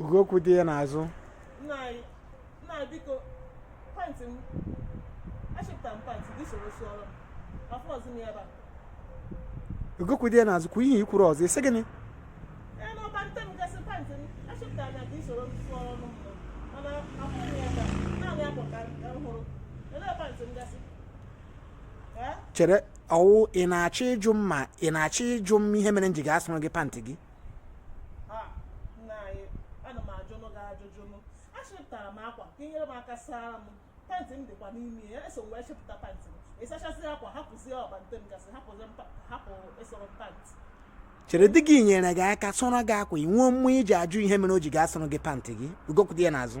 ugo kwụ di ya n'azụ ugo kwụ di ya n'azụ kwuo ihe i kwuru ọzọ ị sị gịnị chere ọ wụ ị na-achọ ịjụ m ma ị na-achọ ịjụ m ihe mere m ji ga-asụrụ gị pantị gị pantị m dịkwa n'ime ya eso m wee chịpụta pantị m ị sachasị akwa hapụzie ọbante m gasị hapụ ịsụrụ pantị chere di gị nyere gị aka sụọrọ gị akwa i nwee mmụọ iji ajụ ihe mere o ji ga-asụrụ gị pantị gị ugo kwụ di ya n'azụ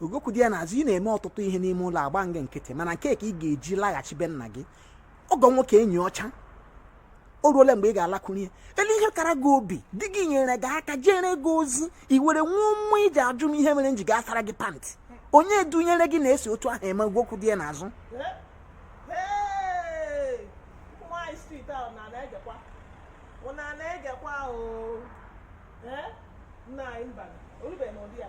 ugo kwụ di ya n'azụ ị na-eme ọtụtụ ihe n'ime ụlọ agba m gị nkịtị mana nke a ka ị ga-eji laghachi be nna gị ọgọ nwoke enyi ọcha o ruola mgbe ị ga-alakwuru ya elee ihe kara gị obi di gị nyere gị aka jere gị ozi i were nwee mmụọ iji ajụ m ihe mere m ji ga-asara gị pantị onye dunyere gị na e si otu ahụ eme ugo kwụ di ya n'azụ na-egekwa ahụ nna anyị mba o rubeghị n'ụdị ya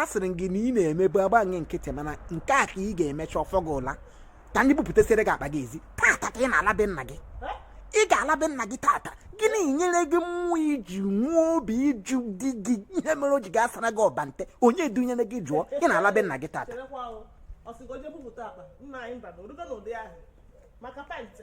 asịrị m gị na ị na-emebu agba m gị nkịtị mana nke a ka ị ga-emecha ọ fọ gị ụla ka m je bupụtasịrị gị akpa gị ezi tata ka ị na-ala be nna gị ị ga-ala be nna gị tata gịnị nyere gị mmụọ iji nwee obi ịjụ di gị ihe mere o ji ga-asara gị ọbante onye dunyere gị jụọ ị na-ala be nna gị tata maka pantị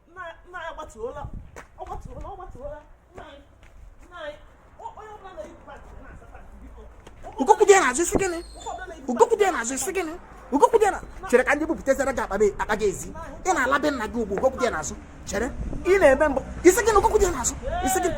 ugo kwụ di ya n'azụ ị sị gịnị ugo kwụ di ya n'azụ ị sị gịnị ugo kwụ di ya chere ka m je bupụtasịara gị akpa gị ezi ị na-ala be nna gị ugbu ugo kwụ di ya n'azụ chere ị na-eme mbụ ị sị gịnị ugo kwụ di ya n'azụ ị sị gịnị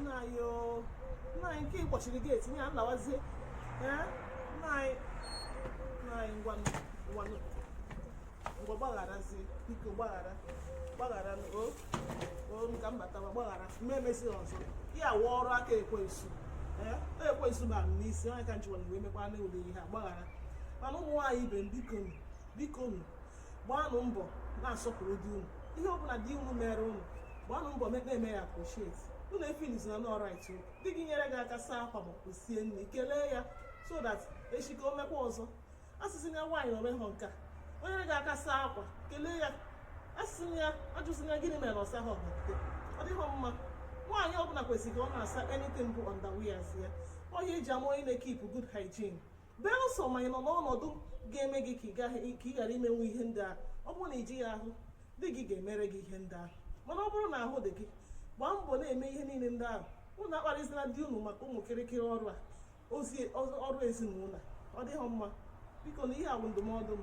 nna anyị o nna anyị nke ị kpọchiri geeti ya m lawazie nna anyị nna anyị ngwanụ ngwanụ ngwa gbagharazie biko gbaghara gbaghara o o m ka m batawa gbaghara m ma emezi ọzọ ya wụ ọrụ aka ekwensu ekwensu bara m n'isi ọ ya ka m ji wee mekwanụ ụdị ihe a gbaghara mana ụmụ nwaanyị ibe m biko biko gbaanụ mbọ na-asọpụrụ di unu ihe ọbụla di unu mere unu gbaanụ mbọ na-eme ya appreciate unu efeelzina na ọ right di gị nyere gị aka saa akwa ma ọ sie nri kelee ya so that echi ka o mekwa ọzọ asịzina nwaanyị na o mehọ nke a o nye gị aka saa akwa kelee ya asịzina ya ajụzina gịnị mere na ọ sahọ ọbante ọ dịghị mma nwaanyị ọbụla kwesịrị ka ọ na-asa anything bụ underwears ya ọ ya e ji ama onye na-ekeep good hygiene belụsọ ma ị nọ n'ọnọdụ ga-eme gị ka ị ghara imenwu ihe ndị ahụ ọ bụrụ na ị jighị ahụ di gị ga-emere gị ihe ndị ahụ mana ọ bụrụ na ahụ dị gị gbaa mbọ na-eme ihe niile ndị ahụ unu akparịzila di unu maka ụmụ kịrịkịrị ọrụ a ọrụ ezinụlọ ọ dịghị mma biko na ihe a wụ ndụmọdụ m